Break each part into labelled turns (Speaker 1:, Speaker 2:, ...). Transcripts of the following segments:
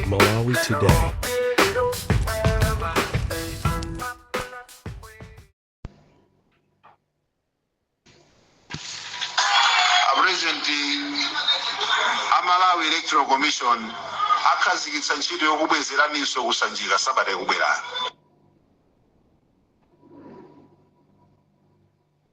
Speaker 1: Malawi
Speaker 2: Today. apurezidenti a malawi electoral commission akhazikitsa ntchito yokubwezeraninso ku Sanjika sabata ikubwerayo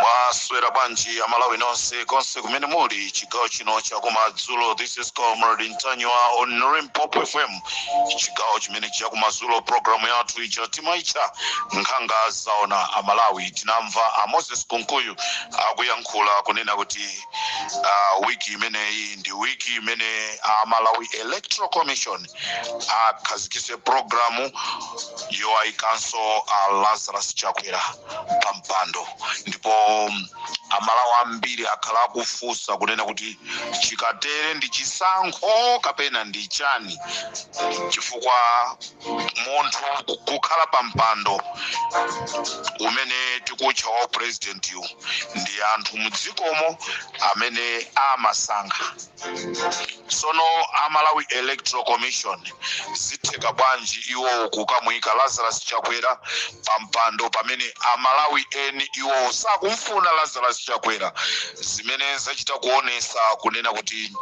Speaker 2: mwaswera bwanji amalawi nonse konse kumene muli chigawo chino chakumadzulo this is comrade ntanyiwa on limpopo fm chigawo chimene chakumadzulo programu yathu ija timaitcha nkhanga zaona amalawi tinamva a moses kunkuyu akuyankhula kunena kuti uh, wiki imeneyi ndi wiki imene a malawi electoral commission akhazikise programu yowayikanso a lazarus chakwera pa mpando ndipo um, amalawi ambiri akhala akufunsa kunena kuti chikatere ndi chisankho kapena ndi chani chifukwa munthu kukhala pa mpando umene tikutcha wa upurezidentiwu ndi anthu mdzikomo amene amasankha sono a malawi electoral commission zitheka bwanji iwo kukamuyika lazarus chakwera pa mpando pamene amalawi eni iwowo sakumfuna lazarus chakwera zimene zachita kuonesa kunena kuti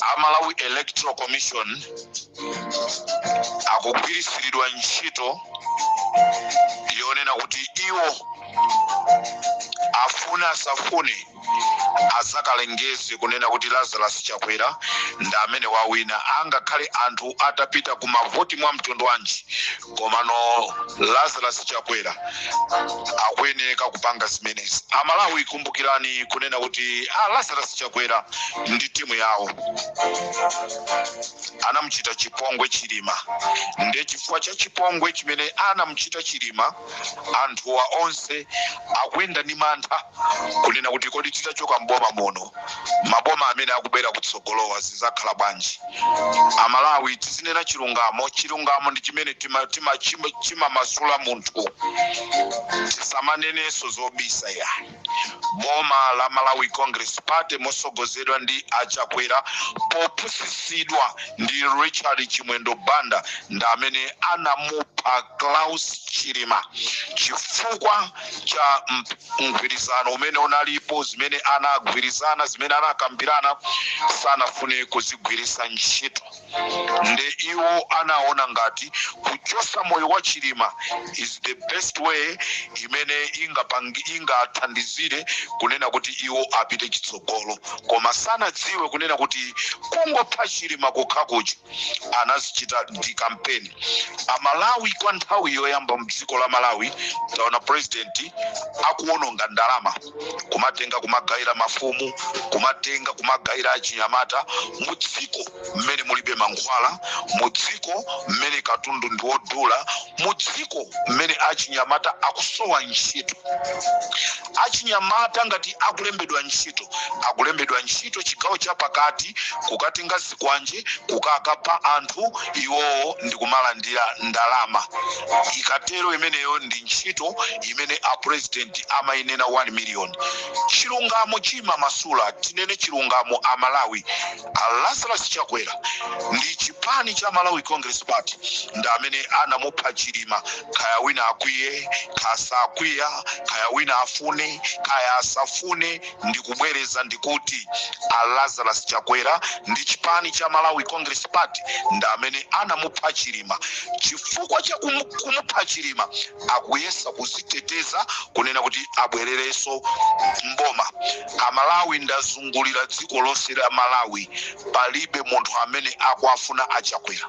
Speaker 2: a malawi electoral commission akugwiritsiridwa ntchito yonena kuti iwo afune asafune azakalengeze kunena kuti lazarus chakwera ndi amene wawina angakhale anthu atapita ku mavoti mwa mtundu wanji komano lazarus chakwera akuyeneka kupanga zimenezi amalawi kumbukirani kunena kuti a lazarus chakwera ndi timu yawo anamuchita chipongwe chilima ndiye chifukwa cha chipongwe chimene anamuchita chilima anthuwa onse akuyenda ndi mantha kunena kuti kodi titachoka mboma muno maboma amene akubwera kutsogolowa zizakhala bwanji amalawi tizinena chilungamo chilungamo ndi chimene tima, tima, chima, chimamasula munthu tisamanenenso zobisa iyayi boma la malawi congress party mosogozedwa ndi a chakwera popusitsidwa ndi richard chimwendo banda ndi amene anamupha klaus chilima chifukwa cha mgwirizano umene unalipo, zimene anagwirizana, zimene anakambirana, sanafune kuzigwiritsa ntchito. Nde iwo anaona ngati kuchosa moyo wa Chilima is the best way imene ingapangi ingathandizire kunena kuti iwo apite chitsogolo, koma sanadziwe kunena kuti kungopha Chilima kokhakuja anazichita ndi kampeni amalawi kwa nthawi yoyamba mdziko la malawi taona president akuononga ndalama kumatenga kumagaira mafumu kumatenga kumagaira achinyamata mu dziko mmene mulibe mankhwala mu dziko mmene katundu ndi wodula mu dziko mmene achinyamata akusowa ntchito achinyamata ngati akulembedwa ntchito akulembedwa ntchito chigawo chapakati kukatenga kwanje kukakhapa anthu iwowo ndikumalandira ndalama ikatero imeneyo ndi ntchito imene a president amainena 1 million chilungamo chimamasula tinene chilungamo a malawi a lazarus chakwera ndi chipani cha malawi congress party ndi amene anamupha chilima kaya wina akwiye kaya sakwiya kaya wina afune kaya asafune Ndikubwereza ndikuti a Lazarus Chakwera ndi chipani cha Malawi Congress Party ndi amene anamupha Chilima. Chifukwa cha kumu, kumupha Chilima akuyesa kuziteteza kunena kuti abwerereso mboma. Amalawi ndazungulira dziko lonse la Malawi palibe munthu amene akuwafuna a Chakwera.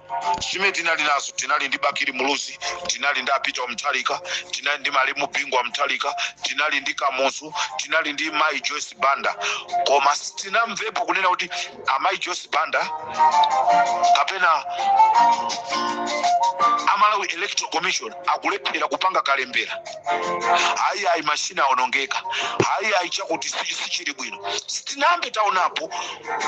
Speaker 2: zimene tinali nazo tinali ndi bakili muluzi tinali ndi a peter mutharika tinali ndi malemu bingu wa mutharika tinali ndi kamuzu tinali ndi mai joyce banda koma sitinamvepo kunena kuti amai joyce banda kapena amalawi electoral commission akulephera kupanga kalembera hayi hayi mashini awonongeka hayi hayi chakuti si- sichili bwino sitinayambe taonapo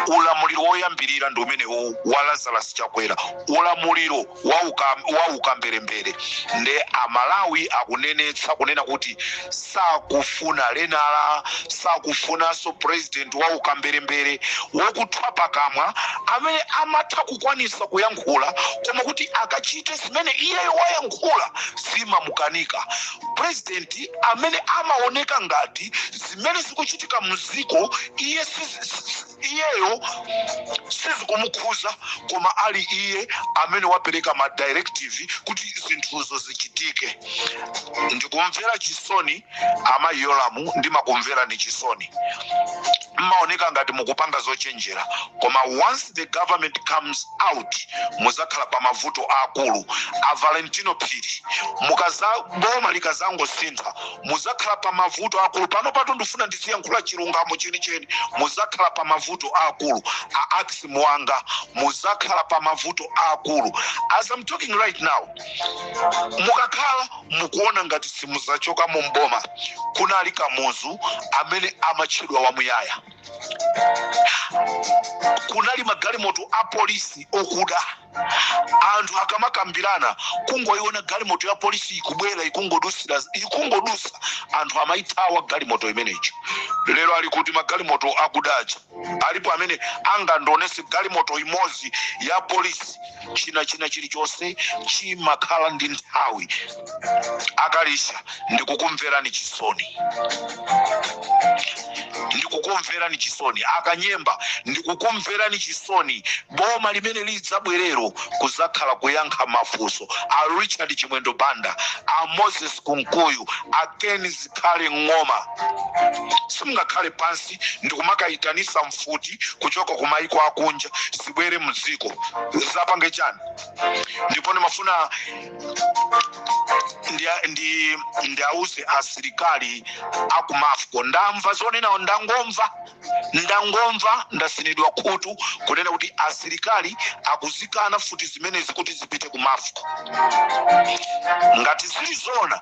Speaker 2: ulamuliro woyambirira ndi umenewu wa lazarus chakwera ulamuliro wa uka- wa ukamberembere nde amalawi akunenetsa kunena kuti sakufuna lenala sakufunanso president wa ukamberembere wokuthwa pakamwa amene amatha kukwanisa kuyankhula koma kuti akachite zimene iyeyo wayankhula zimamukanika president amene amaoneka ngati zimene zikuchitika mziko iye sizi- si- si- iyeyo sizikumukhuza koma ali iye amene wapereka ma directive kuti zinthuzo zichitike ndikumvera chisoni amayi yolamu ndimakumverani chisoni mmaoneka ngati mukupanga zochenjera koma once the government comes out muzakhala pa mavuto aakulu a valentino phiri mukaza boma likazangosintha muzakhala pa mavuto aakulu panopatu ndifuna ndiziyankhula chilungamo chenicheni muzakhala pa mavuto aakulu a axi muwanga muzakhala pa mavuto aakulu as i'm talking right now mukakhala mukuona ngati simuzachoka mu m'boma kunali kamuzu amene amatchedwa wamuyaya kunali magalimoto a polisi okuda anthu akamakambirana kungoiona galimoto ya polisi ikubwera ikungodusira ikungodusa anthu amaithawa galimoto imeneyo lero ali kuti magalimoto akudaja alipo amene angandionese galimoto imodzi ya polisi china china chilichonse chimakhala ndi nthawi akalisha ndikukumverani chisoni ndikukumverani chisoni akanyemba ndikukumverani chisoni boma limene lidzabwerelo kuzakhala kuyankha mafunso a richard chimwendo banda a moses kunkuyu a ken zikhale ng'oma simungakhale pansi ndikumakayitanisa mfuti kuchoka ku maiko akunja zibwere mdziko zapange chani ndipo ndimafuna ndi- ndi- ndiauze asilikali akumafco ndamva zonena ndangomva ndangomva ndatsinidwa khutu kunena kuti asilikali akuzikana mfuti zimenezi kuti zipite kumafco ngati zili zona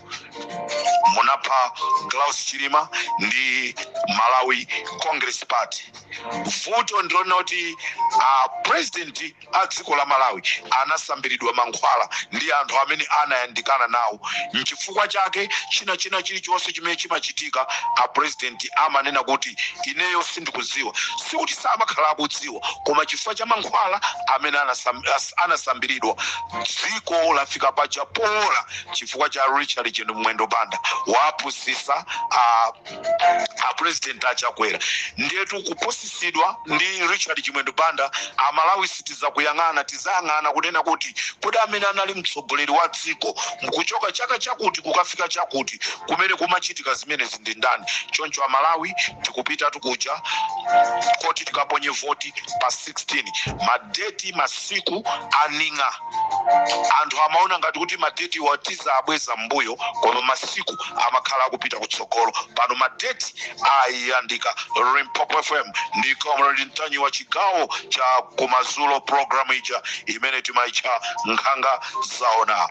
Speaker 2: munapha Klaus Chilima ndi Malawi Congress Party. Vuto ndi lonena kuti a president a dziko la Malawi anasambiridwa mankhwala ndi anthu amene anayandikana nawo. Nchifukwa chake china china chilichonse chimene chimachitika a president amanena kuti ineyo sindikuziwa. Sikuti samakhala akuziwa koma chifukwa cha mankhwala amene anasam, as- anasambiridwa dziko lafika paja pola chifukwa cha richard chino mwendo banda wapusisa a, a president a chakwera ndetu kupusisidwa ndi richard chimwendo banda amalawi sitizakuyang'ana tizayang'ana kunena kuti kodi amene anali mtsogoleri wa dziko mkuchoka chaka chakuti kukafika chakuti kumene kumachitika zimenezi ndi ndani choncho amalawi tikupitatu kuja koti tikaponye voti pa 2016 madeti masiku aning'a anthu amaona ngati kuti madeti mwatiza abweza mbuyo koma masiku amakhala akupita kutsogolo pano madeti ayandika Limpopo fm ndi comrade ntanyi wa chigawo cha kumazulo programu ija imene timaitcha nkhanga zaona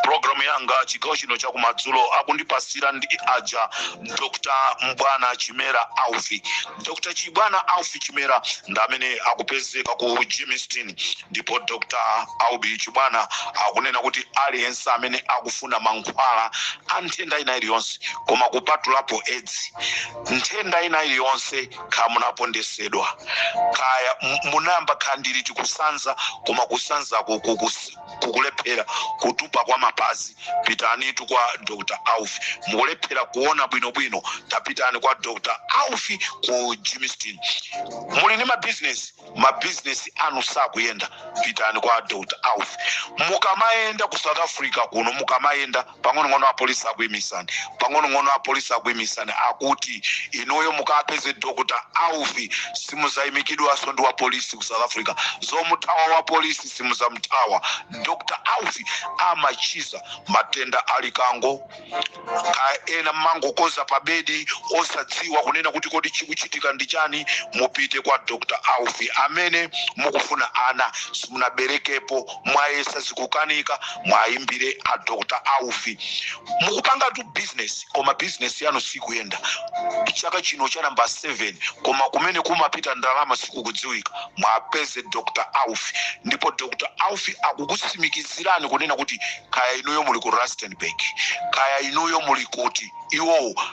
Speaker 2: programu yanga chigawo chino chakumadzulo akundipasira ndi aja dr Chibwana chimera aufi Dr. Chibwana Aufi Chimera ndi amene akupezeka ku Germiston ndipo Dr. Aufi Chibwana akunena kuti aliyense amene akufuna mankhwala a nthenda ina iliyonse koma kupatulapo edzi nthenda ina iliyonse kaya munapondesedwa kaya m- munayamba khandiri tikusanza koma kusanzako kukusi kukulephera kutupa kwa mapazi pitanitu kwa dr aufi mukulephera kuona bwinobwino tapitani kwa dr aufi ku Germiston muli ndi mabizinesi mabizinesi anu sakuyenda pitani kwa dr aufi mukamayenda ku south africa kuno mukamayenda pang'onong'ono apolisi akuimisani pang'onong'ono apolisi akuimisani akuti inuyo mukapeze dr aufi simuzayimikidwanso ndi wapolisi ku south africa zomuthawa wapolisi simuzamuthawa dr aufi amachiza matenda a likango kaya ena mmangokodza pa bedi osadziwa kunena kuti kodi chikuchitika ndi chani mupite kwa dr aufi amene mukufuna ana simunaberekepo mwayesa zikukanika mwayimbire a dr aufi mukupangatu bizinesi koma bizinesi yanu sikuyenda chaka chino cha namba 7 koma kumene kumapita ndalama sikukudziwika mwapeze dr aufi ndipo dr aufi akukutsimikizirani kunena kuti kaya inuyo muli ku rustenburg kaya inuyo muli kuti iwowo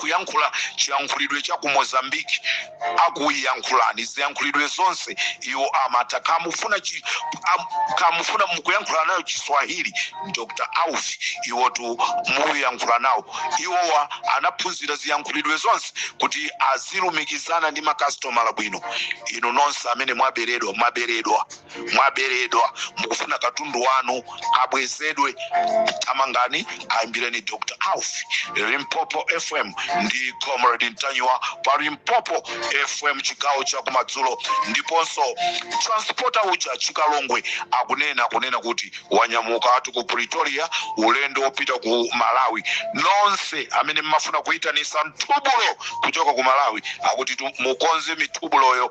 Speaker 2: kuyankhula chiyankhulidwe cha ku mozambique akuyankhulani ziyankhulidwe zonse iwo amatha kamufuna chi- am- kamufuna mukuyankhula nayo chiswahili dr aufi iwotu muyankhula nawo iwowa anaphunzira ziyankhulidwe zonse kuti azilumikizana ndi makasitomala bwino inu nonse amene mwaberedwa mwaberedwa mwaberedwa mukufuna katundu wanu abwezedwe tamangani aimbireni dr alfie limpopo fm ndi comrade ntanyiwa pa limpopo fm chigawo cha kumadzulo ndiponso transporter uja chikalongwe akunena kunena kuti wanyamuka ati ku pretoria ulendo wopita ku malawi nonse amene mmafuna kuyitanisa mthubulo kuchoka ku malawi akuti mukonze mithubuloyo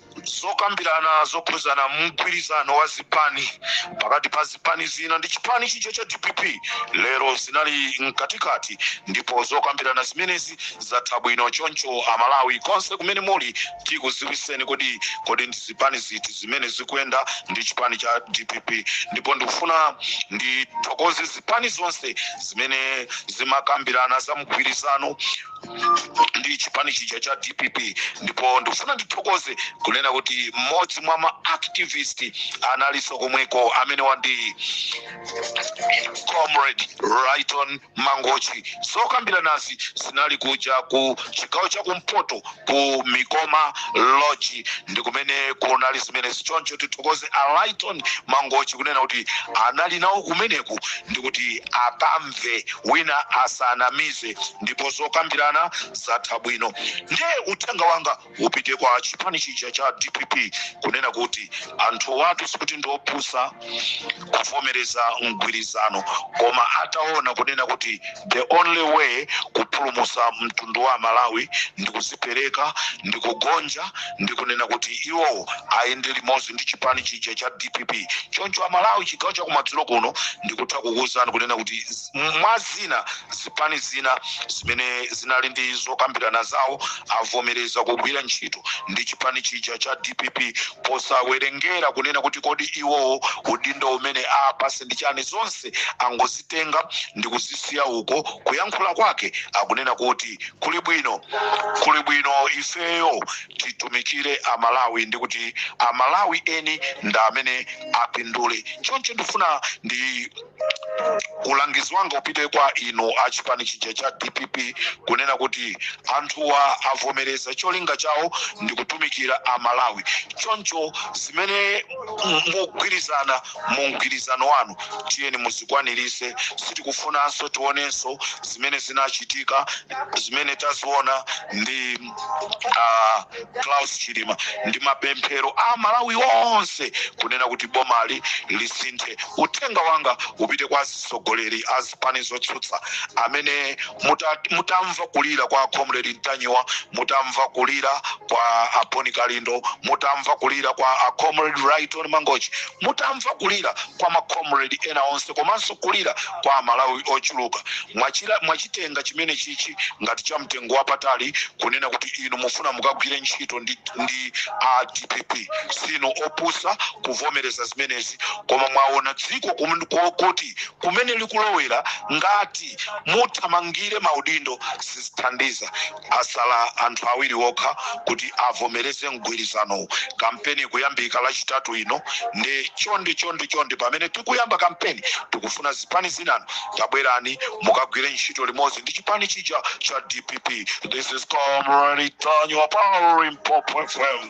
Speaker 2: zokambirana zokhudzana mgwirizano wa zipani pakati pa zipani zina ndi chipani chicho cha dpp lero zinali mkatikati ndipo zokambirana zimenezi zatha bwino choncho amalawi konse kumene muli tikuziwiseni kodi ndi zipani ziti zimene zikuyenda ndi chipani cha dpp ndipo ndikufuna ndithokoze zipani zonse zimene zimakambirana za mgwirizano ndi chipani chija cha dpp ndipo ndikufuna ndithokoze kunena kuti mmodzi mwa ma activist analinso komweko amene ndi comrade Lyton mangochi zokambiranazi zinali kuja ku chigawo cha kumpoto ku mikoma lodge ndi kumene kunali zimenezi choncho tithokoze a Lyton mangochi kunena kuti anali nawo kumeneku ndi kuti akamve wina asanamize ndipo zokambirana zatha bwino ndiye uthenga wanga upite kwa chipani chija cha dpp kunena kuti anthuwatu sikuti ndiopusa kuvomereza mgwirizano koma ataona kunena kuti the only way kupulumusa mtundu wa malawi ndi kuzipereka ndi kugonja ndi kunena kuti iwo ayende limodzi ndi chipani chija cha dpp choncho amalawi chigawo chakumadzulo kuno ndikutha kukuwuzani kunena kuti mwa zina, zipani zina zimene zinali ndi zokambirana zawo avomereza kugwira ntchito ndi chipani chija cha dpp posawerengera kunena kuti kodi iwowo udindo umene apase ndi chani zonse angozitenga ndi kuzisiya uko kuyankhula kwake akunena kuti kuli bwino kuli bwino ifeyo titumikire amalawi ndi kuti amalawi eni ndi amene apindule choncho ndifuna ndi ulangizi wanga upite kwa inu a chipani chija cha dpp kunena kuti anthuwa avomereza cholinga chawo ndi kutumikira amalawi choncho zimene mugwirizana mu mgwirizano wanu tiyeni muzikwanirise sitikufunanso tionenso zimene zinachitika zimene taziona ndi a Klaus Chilima ndi mapemphero Amalawi onse kunena kuti bomali lisinthe. Uthenga wanga upite kwa azisogoleri a zipani zotsutsa amene muta, mutamva kulira kwa a Comrade Ntanyiwa, mutamva kulira kwa a Bon Kalindo, mutamva kulira kwa a Comrade Lyton Mangochi, mutamva kulira kwa ma Comrade ena onse komanso kulira kwa amalawi ochuluka mwachila mwachitenga chimenechichi ngati cha mtengo wapatali kunena kuti inu mufuna mukagwire ntchito ndi, ndi a dpp sinu opusa kuvomereza zimenezi koma mwaona dziko kumen- ko- kuti kumene likulowera ngati muthamangire maudindo sizithandiza Asala anthu awiri okha kuti avomereze mgwirizanowu. Kampeni ikuyambika lachitatu ino nde chonde chonde chonde pamene tikuyamba kampeni tikufuna zipani zinanu tabwerani mukagwire ntchito limodzi ndi chipani chija cha dpp. This is Comrade Ntanyiwa pa Limpopo FM.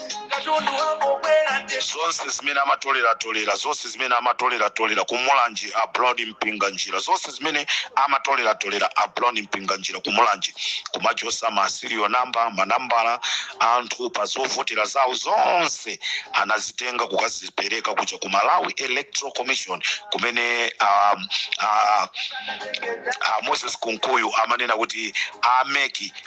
Speaker 2: katundu wangobwera nde zonse zimene amatoleratolera zonse zimene amatoleratolera ku Mulanje a Brown Mpinganjira zonse zimene amatoleratolera a Brown Mpinganjira ku Mulanje kumachosa ma serial number manambala a anthu pa zovotera zawo zonse anazitenga kukazipereka kuja ku malawi electoral commission kumene um, uh, uh, moses kunkuyu amanena kuti a MEC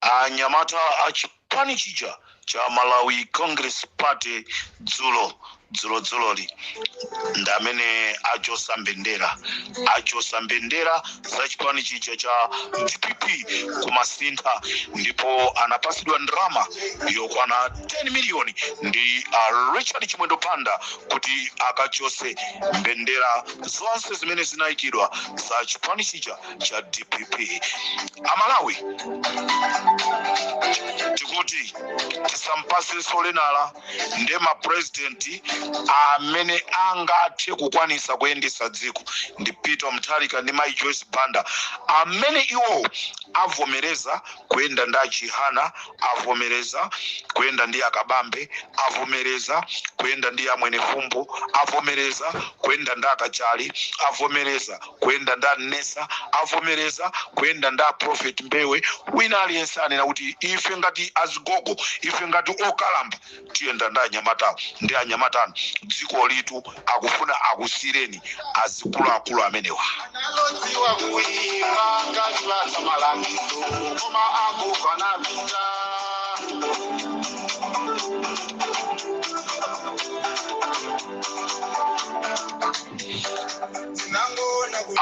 Speaker 2: Anyamata a chipani chija cha Malawi Congress Party dzulo dzulo dzuloli ndamene achosa mbendera achosa mbendera za chipani chija cha dpp ku Masintha ndipo anapasidwa ndrama yokwana 10 miliyoni ndi a richard chimwendo banda kuti akachose mbendera zonse zimene zinayikidwa za chipani chija cha dpp amalawi tikuti tisampasenso lenala nde mapurezidenti amene angathe kukwanisa kuyendesa dziko ndi peter mutharika ndi mai joyce banda amene iwo avomereza kuyenda ndi a chihana avomereza kuyenda ndi a kabambe avomereza kuyenda ndi a mwenifumbo avomereza kuyenda ndi a kachali avomereza kuyenda ndi a Nesa avomereza kuyenda ndi a Prophet Mbewe wina aliyense anena kuti ife ngati azigogo ife ngati okalamba tiyenda ndi anyamatawo ndi anyamatano dzikolitu akufuna akusiireni azikuluakulu amenewa analodziwa kuimba kachipatsa malangizo koma agogo anapita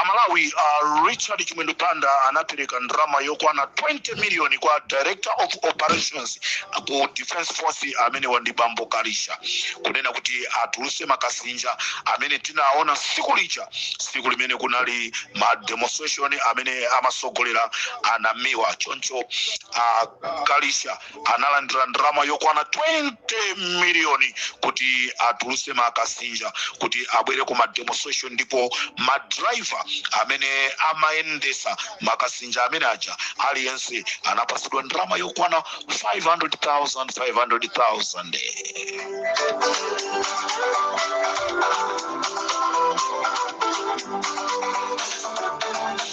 Speaker 2: amalawi a richard chimwendo banda anapereka ndalama yokwana 20 miliyoni kwa director of operations ku defense force amenewa ndi bambo kalisha kunena kuti atuluse makasinja amene tinaona siku lija siku limene kunali ma demonstration amene amasogolera a Namiwa choncho a kalisha analandira ndalama yokwana 20 miliyoni kuti atuluse makasinja kuti abwere ku mademonstration ndipo madraiva amene amayendesa makasinja amene aja aliyense anapasidwa ndalama yokwana 500,000 500,000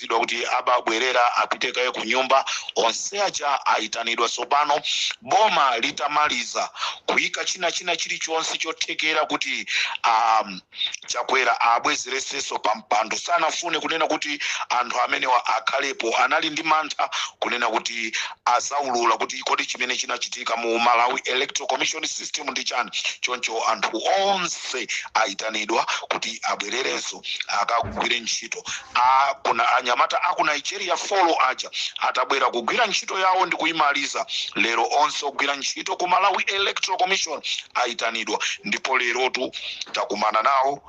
Speaker 2: zidwa kuti abaabwerera apite kaye ku nyumba onse aja ayitanidwa tsopano boma litamaliza kuyika china china chilichonse chothekera kuti a chakwera abwezeresenso pa mpando sanafune kunena kuti anthu amenewa akhalepo anali ndi mantha kunena kuti azaulula kuti kodi chimene chinachitika mu Malawi Electoral Commission System ndi chani. Choncho anthu onse aitanidwa kuti abwererenso akagwire ntchito. Anyamata a ku Nigeria folo aja atabwera kugwira ntchito yawo ndi kuimaliza lero, onse ogwira ntchito ku Malawi Electoral Commission aitanidwa ndipo lerotu takumana nawo.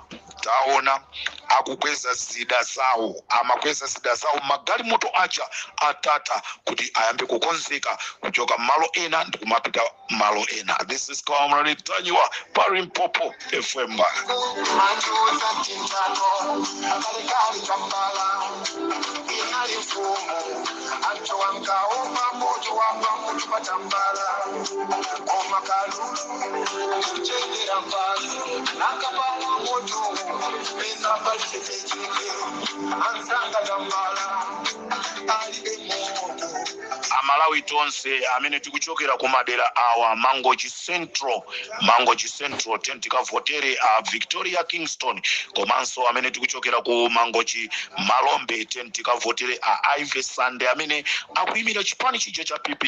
Speaker 2: Taona, akukweza zida zawo, amakweza zida zawo m'magalimoto aja a Tata kuti ayambe kukonzeka kuchoka malo ena ndikumapita malo ena. This is Comrade Ntanyiwa pa Limpopo FM. Majuza tintano kalekale kampala inali mfumu anthu ankaopa moto wamba mutu patambala koma kalulu kuchenjera mbanzi nakapamwa moto pena pachitecheke anzanga tambala alibe moto amalawi tonse amene tikuchokera ku madera awa mangochi central mangochi central tiyeni tikavotere a victoria kingston komanso amene tikuchokera ku mangochi malombe tiyeni tikavotere a ivy sande amene akuyimira chipani chija cha pp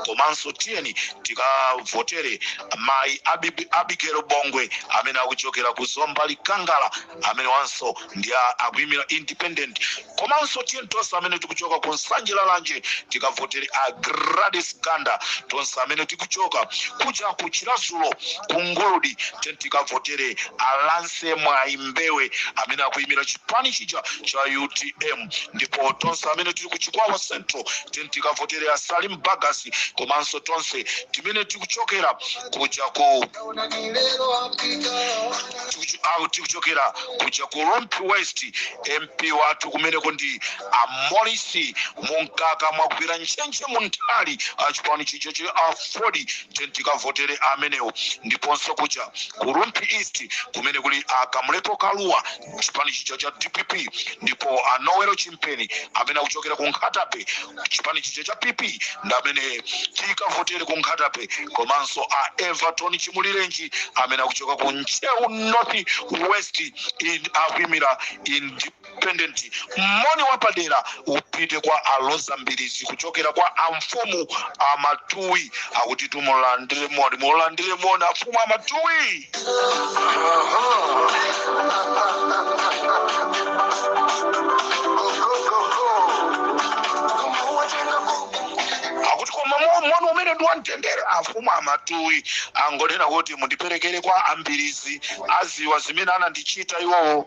Speaker 2: komanso tiyeni tikavotere mayi Abi- abigail bongwe amene akuchokera ku zomba likangala amene wanso ndi a- akuyimira independent komanso tiyeni tonse amene tikuchoka ku nsanje lalanje tikavotere a gladys ganda tonse amene tikuchoka kuja ku chiradzulu ku nguludi tiyeni tikavotere a lance mwayi mbewe amene akuyimira chipani chija cha utm ndipo tonse amene tili ku chikwawa central tiyeni tikavotere asalim bagus komanso tonse timene tikuchokera kuja ku tikuchu- au tikuchokera kuja ku rumphi west mp wathu kumeneko ndi a maurice munkaka mwagwira ntchentche munthali achipani chija cha aford tiyeni tikavotere amenewo ndiponso kuja ku rumphi east kumene kuli a kamlepo kalua chipani chija cha dpp ndipo a noel chimpeni amene akuchokera ku nkhatabay chipani chija cha pp ndi amene tikavotere ku nkhatabay komanso a everton chimulirenji amene akuchoka ku ntcheu north west in akuimira independent moni wapadera upite kwa aloza mbirizi kuchokera kwa amfumu amatuwi akuti tumulandire moni mulandire moni amfumu amatuwi akuti koma mo- moni umene ndi wamtendere amfumu amatuwi angonena kuti mundiperekere kwa ambirizi aziwa zimene anandichita iwowo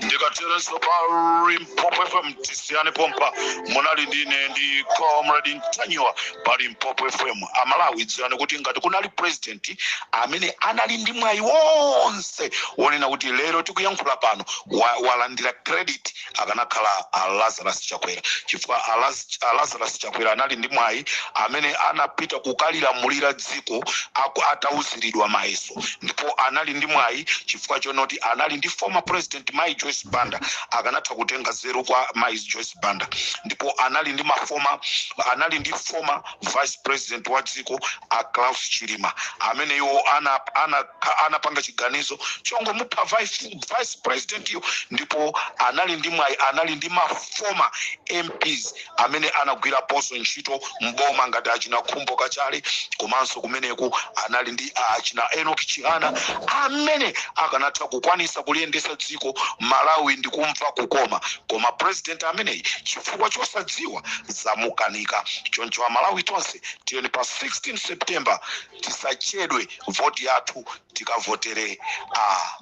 Speaker 2: ndikateronso pa limpopo fm tisiyane pompa munali ndine ndi comrade ntanyiwa pa limpopo fm amalawi dziwani kuti ngati kunali president amene anali ndi mwayi wonse wonena kuti lero tikuyankhula pano wa- walandira credit akanakhala a lazarus chakwera chifukwa a Laz- a lazarus chakwera anali ndi mwayi amene anapita kukalamulira dziko aku- atauziridwa mayeso ndipo anali ndi mwayi chifukwa chonoti anali ndi former president mai joyce banda akanatha kutenga nzeru kwa mai joyce banda ndipo anali ndi mafoma anali ndi former vice president wa dziko a klaus chilima amene iwo anapanga ana- ana- anapanga chiganizo chongomupha vice vice president yo ndipo anali ndi mwayi anali ndi ma former mps amene anagwirapoonso ntchito mboma ngati achina khumbo kachali komanso kumeneko anali ndi ah, achina enoch chihana amene akanatha kukwanisa kuliyendesa dziko malawi ndi kumva kukoma koma president ameneyi chifukwa chosadziwa zamukanika choncho amalawi tonse tiyeni pa 16 september tisachedwe voti yathu tikavotere a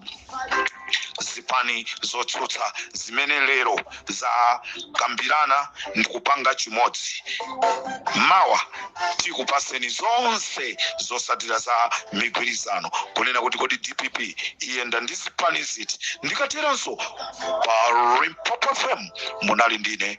Speaker 2: zipani zotsutsa zimene lero zakambirana ndikupanga chimodzi mawa tikupaseni zonse zosatira za migwirizano kunena kuti kodi dpp iyenda ndi zipani ziti ndikateranso pa limpopo fm munali ndine